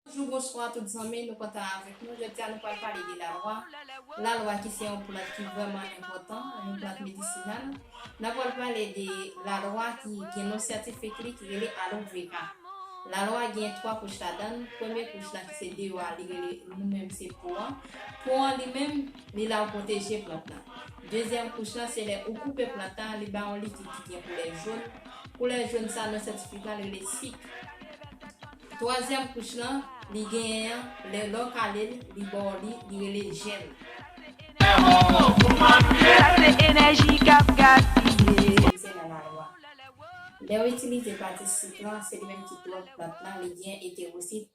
Bonjou, bonswa tout zanmi, nou kontan avèk nou. Jodi a nou pral pale de lalwa. Lalwa ki se yon plant ki vrèman enpòtan, yon plant medisinal. Nan pral pale de lalwa ki gen non syantifik li ki rele Aloe Vera. Lalwa gen 3 kouch ladan l. Premye kouch la ki se deyò a li rele nou menm se po an. Po an li menm Li la ou pwoteje plant lan. Dezyèm kouch lan se lè ou koupe plant an li ba yon likid ki gen koulè joun, koulè joun sa nan syantifik lan rele sik. Twazyèm kouch lan li genyen an lè lè w kale l li ba w li, li rele jèm. Itilize nan lalwa. Lè w itilize pati sik lan se li menm ki twonk plant lan li genyen etewosit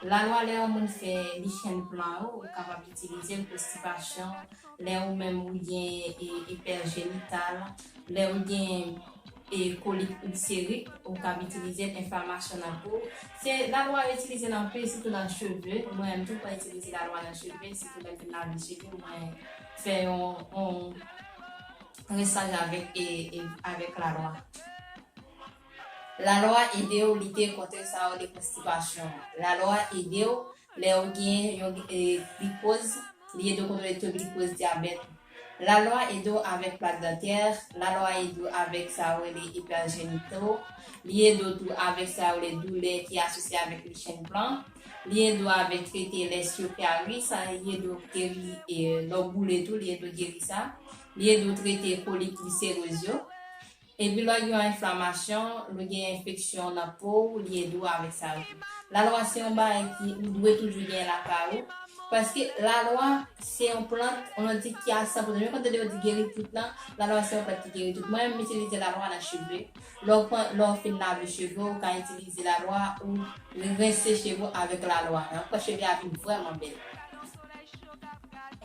Lalwa lè yon moun fè li chèn plan ou kapab itilize l konstipasyon lè ou menm ou gen epèl jenital lè ou gen kolit ilserik ou kab itilize l enflamasyon nan po se lalwa yo itilize l anpil sitou nan cheve mwen menm tou mwen itilize lalwa nan cheve sitou lè m fin lave cheve m mwen fè yon rinsan avèk lalwa. Lalwa ede w lite kont sa yo rele konstipasyon an. Lalwa ede w lè ou gen yon glikoz, li ede w kontwole to glikoz, dyabèt ou. Lalwa ede w avèk plak dantè, lalwa ede w avèk sa yo rele ipèjenite w, li ede w tou avèk sa yo rele doulè ki asosye avèk lichen blan, li ede w avèk trete lè esyo fè a ri, sa li ede w geri lè w boule tou li ede w geri sa, li ede w trete kolit, viseriz yo. Epilogue Yon enflamasyon, lè w gen enfeksyon nan po w, li ede w avèk sa tou. Lalwa se yon bagay ki ou dwe toujou genyen lakay ou, paske lalwa se yon plant, yon lòt di ki a san pote. Menm kan w tande yo di geri tout lan, lalwa se yon plant ki geri tout. Mwen menm m itilize lalwa nan cheve. Lè w pran, lè w fin lave cheve w, ou ka itilize lalwa ou rense cheve w avèk lalwa. Sa fè cheve a vin vrèman bèl.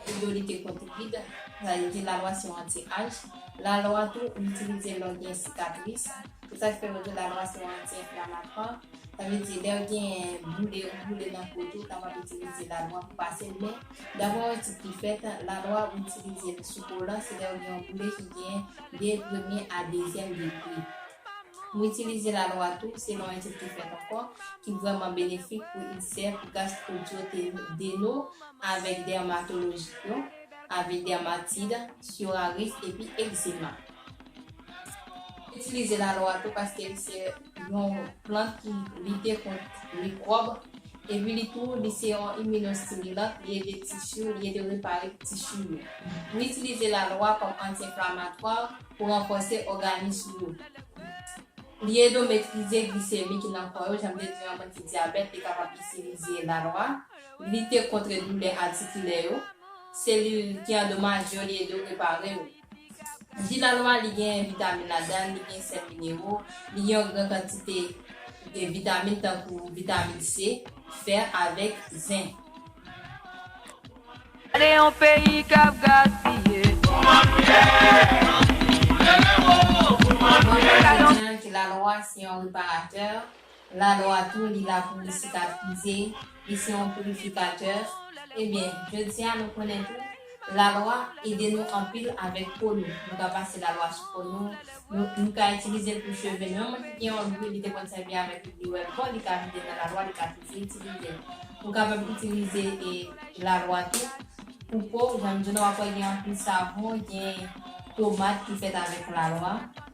Fridolite Copipide, sa vle di lalwa se yon anti-aj, lalwa tou ou itilize lè w gen sikatris, se sa k fè yo di lalwa se yon anti-enflamatwa, sa vle di lè gen boule ou boule nan po tou ou kapab itilize lalwa pou pase l men daprè yon etid ki fèt lalwa ou itilize l sou kolan se lè ou gen yon boule ki gen de premye a dezyèm degre. Ou itilize lalwa tou selon yon etid ki fèt ankò ki vrèman benefik pou ilsè, pou gastro-dyoteni, deno. avèk dèmatolojik yo, avè dèmatid, psoriasis epi egzema. Itilize lalwa tou paske li se yon plant ki lite kont mikwòb epi li tou li se yon iminostimilan, li ede tissu, li ede repare tissu yo. Nou itilize lalwa kòm anti-enflamatwa pou ranfòse òganis ou yo. Li ede w metrize glisemi ki nan kò yo, jan m te di yon moun ki dyabèt li kapab itilize lalwa. lite kontre doulè atikilè yo, selil ki andomaje yo li ede w repare yo. Ji nan nwa li genyen vitamin ladan l, li gen sèl minero, li gen yon gran kantite vitamin tankou vitamin C, fer avèk zen. Gade yon peyi kap gaspiye. Kouman nou ye? Anpil moun rele wo, kouman nou ye? Bon Dieu Kretyen an ki lalwa se yon reparatè, Lalwa tou li la pou li sikatrize, li se yon pirifikatè, ebyen jodi a nou konnen tou lalwa ede nou anpil avèk po nou, nou ka pase lalwa sou po nou, nou ka itilize l pou cheve nou, yon moun ki gen yon dri li te konn sèvi avèk li li wèl bon li ka vide l nan lalwa li ka toujou itilize l, ou kapab itilize lalwa tou pou po, jan m di w nan wap wè gen anpil savon, gen pomad ki fèt avèk lalwa.